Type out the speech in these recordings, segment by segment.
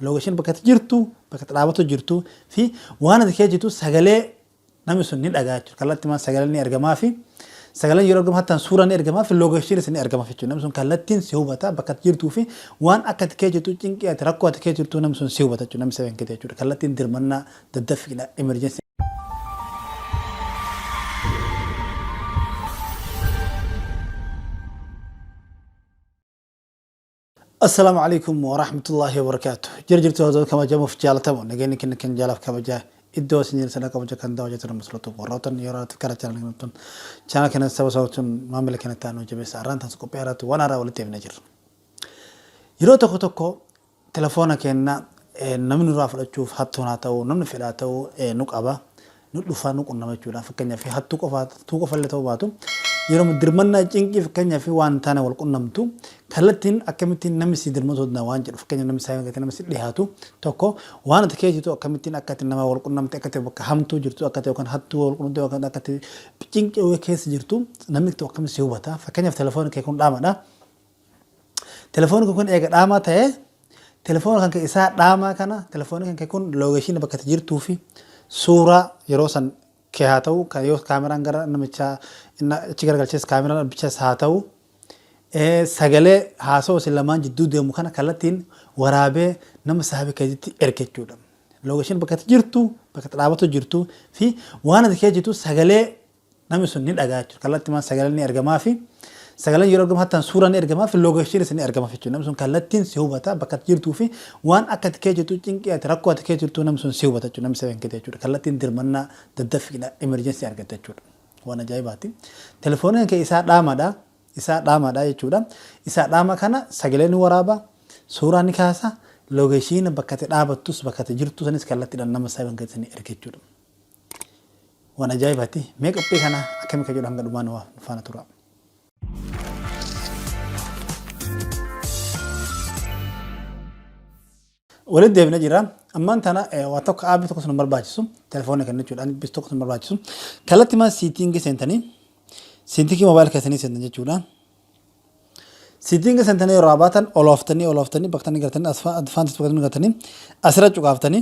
location bakka itti jirtu bakka itti dhaabatu jirtu fi waan ati kee jirtu sagalee namni sun ni dhagaa jechuudha kallattii maan sagalee ni ergamaa fi sagaleen yeroo ergamu hattaan suuraa ni ergamaa fi location isin ni ergama jechuudha namni sun kallattiin si hubata bakka itti jirtuu fi waan akka ati kee jirtu cinqii ati rakkoo ati kee jirtu namni sun si hubata jechuudha namni seven kee jechuudha kallattiin dirmannaa daddaffiidha emergency Assalaamu Aleykum Warahmatullaahi Wabarakaatuh Jirjirtuu hordoftoota kabajamuuf jaalatamu nageenyi kenna kan jaalaaf kabajaa iddoo isin jirtan akka hojja kan daawaa jirtan masalatu warrootan yeroo irratti karaa chaanal kanattan chaanal kana saba sabatuun maamila kana ta'an hojjabeessa arraan taas qophii irratti waan haaraa walitti himna jirra. Yeroo tokko tokko telefoona keenna namni nurraa fudhachuuf hattuun haa ta'u namni fedhaa ta'u nu qaba. nu dhufaa nu qunnama jechuudha. Fakkeenyaaf hattuu qofa hattuu qofa illee ta'uu baatu yeroo dirmannaa cinqii fakkeenyaaf waan taane wal qunnamtu kallattiin akkamittiin namni si dirmatu danda'a waan jedhu fakkeenya namni isaa eeggate namni si dhiyaatu tokko waan ati keessa jirtu akkamittiin akka ati nama wal qunnamte akka ati bakka hamtuu jirtu akka ati yookaan hattuu wal qunnamte yookaan akka ati cinqii keessa jirtu namni tokko akkamitti si hubata fakkeenyaaf telefoon kee kun dhaamadha. Telefooni kee kun eega dhaamaa ta'ee telefoona kan kee isaa dhaamaa kana telefooni kan kee kun loogeeshiina bakka itti jirtuu fi suuraa yeroo san kee haa ta'u kan yoo kaameraan gara namichaa inni achi garagalchees kaameraan abbichas haa ta'u eh, sagalee haasoo isin lamaan jidduu deemu kana kallattiin waraabee nama saahiba keetitti erga jechuudha. Loogeeshiina bakka itti jirtu bakka itti dhaabatu jirtu fi waan ati kee jirtu sagalee Namni sun ni dhaga'a jechuudha. Kallattimaan sagaleen ni ergamaafi. Sagaleen yeroo ergamu hattaan suuraan ni ergamaafi loogeshiniis ni ergamaaf jechuudha. Namni sun kallattiin si hubata bakka ati jirtuu fi waan akka ati kee jirtu cinqii ati rakkoo ati kee jirtu namni sun si hubata jechuudha. Namni seven kiti jechuudha. Kallattiin dirmannaa daddaffiidha emergency argatta jechuudha. Waan ajaa'ibaati. Telefooniin kee isaa dhaamadha. Isaa dhaamadha jechuudha. Isaa dhaama kana sagalee ni waraaba. Suuraa ni kaasa. Loogeshiina bakka ati dhaabattus bakka ati jirtu sanis kallattiidhaan nama seven kiti ni erga jechuudha. Waan ajaa'ibaati. Mee qophii kana akkami ka jedhu hanga dhumaa nu faana tura. Walitti deebina jira. Ammaan tana waa tokko aabii tokko sun barbaachisu telefoona kennachuudhaan bis tokko sun barbaachisu kalatti maa siitingii seentanii siitingii moobaayil keessanii seentan jechuudha. Siitingii seentanii yeroo abaatan olooftanii olooftanii baktanii gartanii advaantis baktanii gartanii asirra cuqaaftanii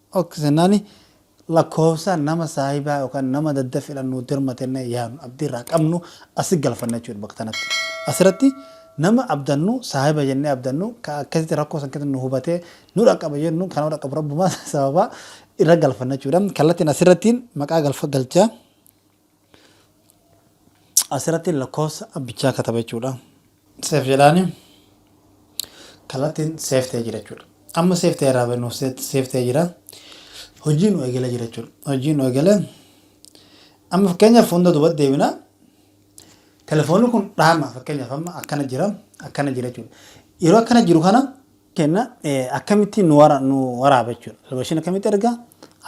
Ok senani lakofsa nama sahiba yookan nama dadafidhan nu dirmate jenne yaanu abdi irraa qabnu asi galfanna jechuudha bakka tanatti asirati nama abdannu sahiba jenne abdannu ka akkasiti rakko san keessati nu hubate nu dhaqaba jennu ka nama dhaqabu rabbuma sababa irra galfanna jechuudha kallatin asirati maqaa galfa galcha. Asirratti lakkoofsa abbichaa kataba jechuudha. Seef jedhaani kallattiin seef ta'ee jira jechuudha. Amma seef ta'ee irraa nuuf seef ta'ee jira. Hojii nu eegalee jira jechuudha. Hojii nu eegalee amma fakkeenyaaf hunda duubatti deebina. Telefoonni kun dhaama fakkeenyaaf amma akkana jira akkana jira jechuudha. Yeroo akkana jiru kana kenna akkamitti nu wara nu waraaba jechuudha. Location akkamitti erga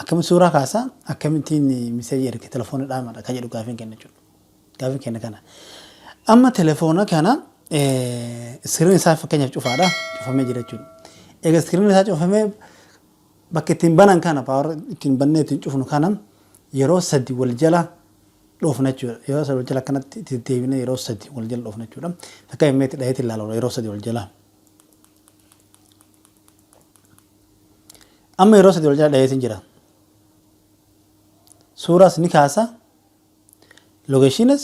akkamitti suuraa kaasa akkamitti miseeji erga telefoona dhaamadha kan jedhu gaafiin kenna jechuudha. Gaafiin kenna kana. Amma telefoona kana iskiriin isaa fakkeenyaaf cufaadha cufamee jira jechuudha. Egaa iskiriin isaa cufamee bakka ittiin banan kana paawar ittiin bannee ittiin cufnu kana yeroo sadi wal jala dhoofna jechuudha. Yeroo sadi wal jala akkanatti itti deebinee yeroo sadi wal jala dhoofna jechuudha. Fakkeenyaaf meetti dhaheetti ilaalaa yeroo sadi wal jalaa. amma yeroo sadii wal jala dhaheetiin jira suuraas ni kaasa logeeshiinas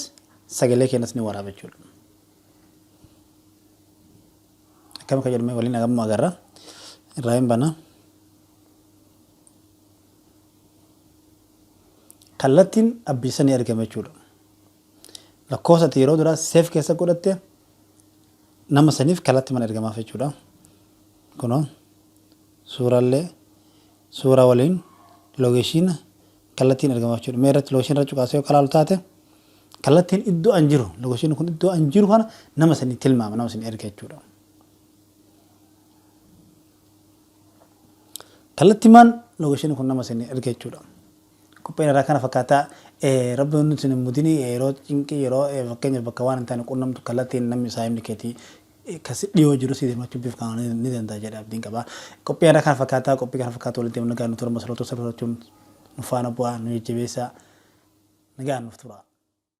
sagalee keenyas ni waraaba jechuudha akkam akka jedhame waliin agamma agarra irraa hin bana kallattiin abbiisanii argame jechuudha lakkoofsatti yeroo duraa seef keessa godhatte Nama saniif kalatti mana ergamaaf jechuudha. Kunoo suurallee suuraa waliin loogeeshiina kallattiin ergamaaf jechuudha. Mee irratti loogeeshiina irra cuqaasee yoo kalaalu taate kallattiin iddoo an jiru loogeeshiinni kun iddoo an jiru kana nama sanii tilmaama nama sanii erga jechuudha. Kallattimaan loogeeshiinni kun nama sanii erga jechuudha. Qopheen irraa kana fakkaata. Rabbi hunduu isin hin mudini. Yeroo cinqii yeroo fakkeenyaaf bakka waan hin taane qunnamtu kallattiin namni saahibni keetii kan si dhiyoo jiru si dirmachuu bifa kanaan ni danda'a jedha abdiin qaba. Qophii irraa kana fakkaata. Qophii kana fakkaatu waliin deemna nagaan nu tura masaloota sirrachuun nu faana bu'aa nu jajjabeessa nagaan nuuf tura.